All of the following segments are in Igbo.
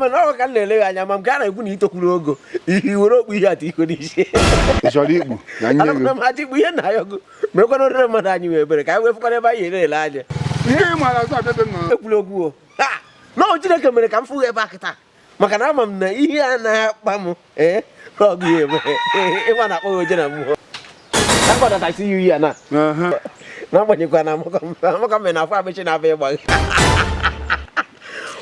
mana ọ ka m na-eleghị anya ma m gaa na-ekwu na i tokwuru ogo i were okpu ihe atụ iko n'isi ị chọrọ ikpu na nye gị anakwana m aja ikpu ihe na ayọgo mekwana orire mmadụ anyị wee bere ka anyị wee fụkwanụ ebe anyị ya-ele anya ihe ị maara azụ abịa be m na ekwula okwu o Ha! na ọ Chineke mere ka m fụghị ebe a kịta maka na ama m na ihe a na-akpa m ee na ọ gụghị eme ịma na akpọghị oje na mmụọ akpọdata isi yi ya na Aha. n'agbanyeghịkwa na amaka m na afọ amechi na-abịa ịgba gị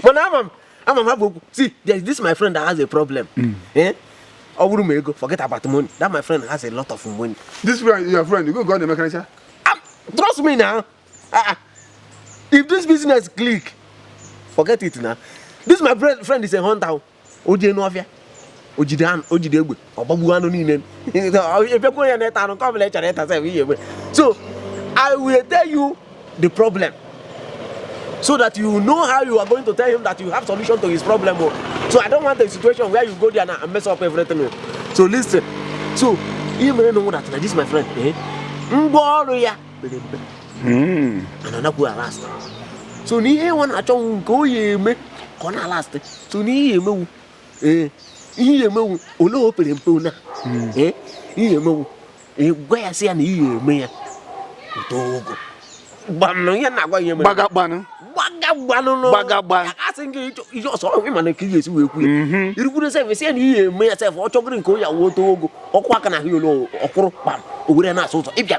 mana ama m ama m ha bụ okwu si there is this my friend that has a problem hmm. eh? ọ bụrụ m ego forget about money that my friend has a lot of money this friend your friend you go go na-emekarịcha ah, trust me now ah, ah. if this business click forget it na this my friend is a hunter o jee n'ọfịa o jide anụ o jide egbe ọ gbagbuo anụ niile ị bịakwa ya na-ata anụ nke ọbụla ị chọrọ ịta sef ihe egbe so i will tell you the problem so that you know how you are going to tell him that you have solution to his problem o oh. so i don't want a situation where you go there now and mess up everything o oh. so listen so ihe merenụ wụ that this my friend eh? ngwa ọrụ ya pere mpe hmm. ọ na anakwu alast so na ihe ọ na-achọnụ wụ nke o ya eme ka ọ na-alast so na i ya-emenwu ee i ya-emenwu ole o pere mpe ona hmm. ee i ya-emenwu gwa ya sị ya na i ya-eme ya o too ogo gbanụ ihe na-agwa ihe mere gbaga gbanụ gbaga gbanụ gbaga gbanụ asị gị ihe ọsọ ọhụrụ ịma na ka ị ga-esi wee kwuo mhm. i rukwuru sef si ya na i ya-eme ya sef ọ chọgoro nke ọ ya-awụ o too ogo ọkụ aka na ahụ ya ole ọkwụrụ kpam o were na-asụ ụzọ ịbịa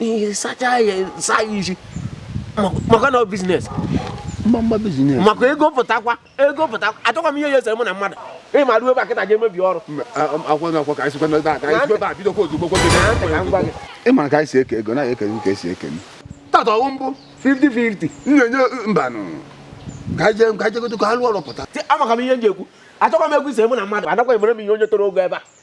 i ya-asacha ya saa ya isi maka na biznes mgbamgba biznes maka ego pụtakwa ego pụta achọkwa m ihe ya-esere mụ na mmadụ ị ma ruo ebe a kịta je emebi ọrụ ị mara ka anyị si eke ego na eke ka esi eke m tata ọ wụ mbụ 50-50 m na-enye mbanụ ka anyị jee ka anyị jegodo ka a lụọ ọrụ pụta amaka m ihe m ji ekwu achọkwa m okwu ise mụ na mmadụ adakwa emere m ihe onye toro ogo ebe a